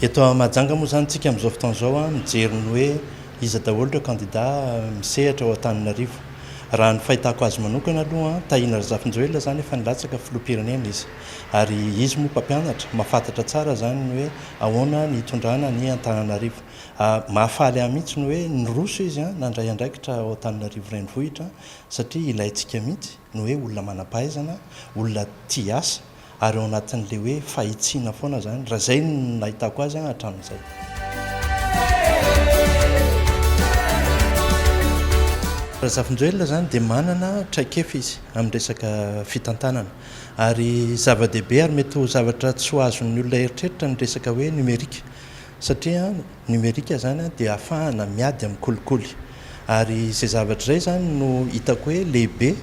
Eto Mahajanga moa izany tsika amin'izao fotoana izao an, mijery ny hoe iza daholo ireo kandida misehatra ao Antananarivo. Raha ny fahitako azy manokana aloha an, Tahina Razafinjoelina izany efa nilatsaka filoham-pirenena izy. Ary izy moa mpampianatra, mahafantatra tsara zany ny hoe ahoana ny hitondrana an' i Antananarivo. Mahafaly ahy mihitsy ny hoe niroso izy an, nandray andraikitra ao Antananarivo Renivohitra satria ilaintsika mihitsy ny hoe olona manam-pahaizana, olona tia asa ary ao anatin'ilay hoe fahitsiana foana zany, raha zay no nahitako azy an hatramin'izay. Razafinjoelina zany dia manana traikefa izy amin'ny resaka fitantanana. Ary zava-dehibe ary mety ho zavatra tsy ho azon'ny olona eritreritra ny resaka hoe nomerika, satria nomerika izany dia afahana miady amin'ny kolikoly. Ary izay zavatra izay izany no hitako hoe lehibe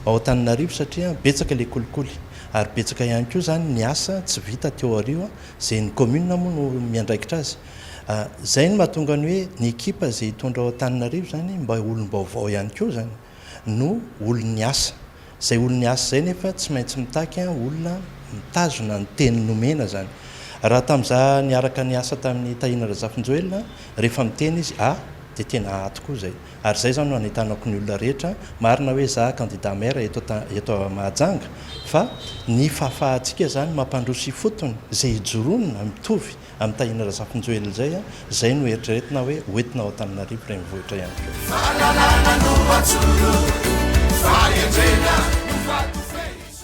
ao Antananarivo satria betsaka ilay kolikoly. Ary betsaka ihany koa izany ny asa tsy vita teo aoriana, izay ny commune moa no miandraikitra azy. Izay no mahatonga ny hoe ny ekipa izay hitondra ao Antananarivo izany mba olom-baovao ihany koa izany. no olon'ny asa. Izay olon'ny asa izay nefa tsy maintsy mitaky olona mitazona ny teny nomena izany. Raha tamin'izaho niaraka niasa tamin'i Tahiana Razafinjoelina, rehefa miteny izy A dia tena A tokoa izay. Ary izay izany no anentanako ny olona rehetra, marina hoe izaho kandida maire eto eto Mahajanga fa ny fahafahantsika izany mampandroso ifotony izay ijoroana mitovy an'i Tahina Razafinjoelina izay an, izay no eritreretina hoe ho entina ao Antananarivo renivohitra ihany koa. Fahalalana no atoro, fahendrena no faty fehizoro.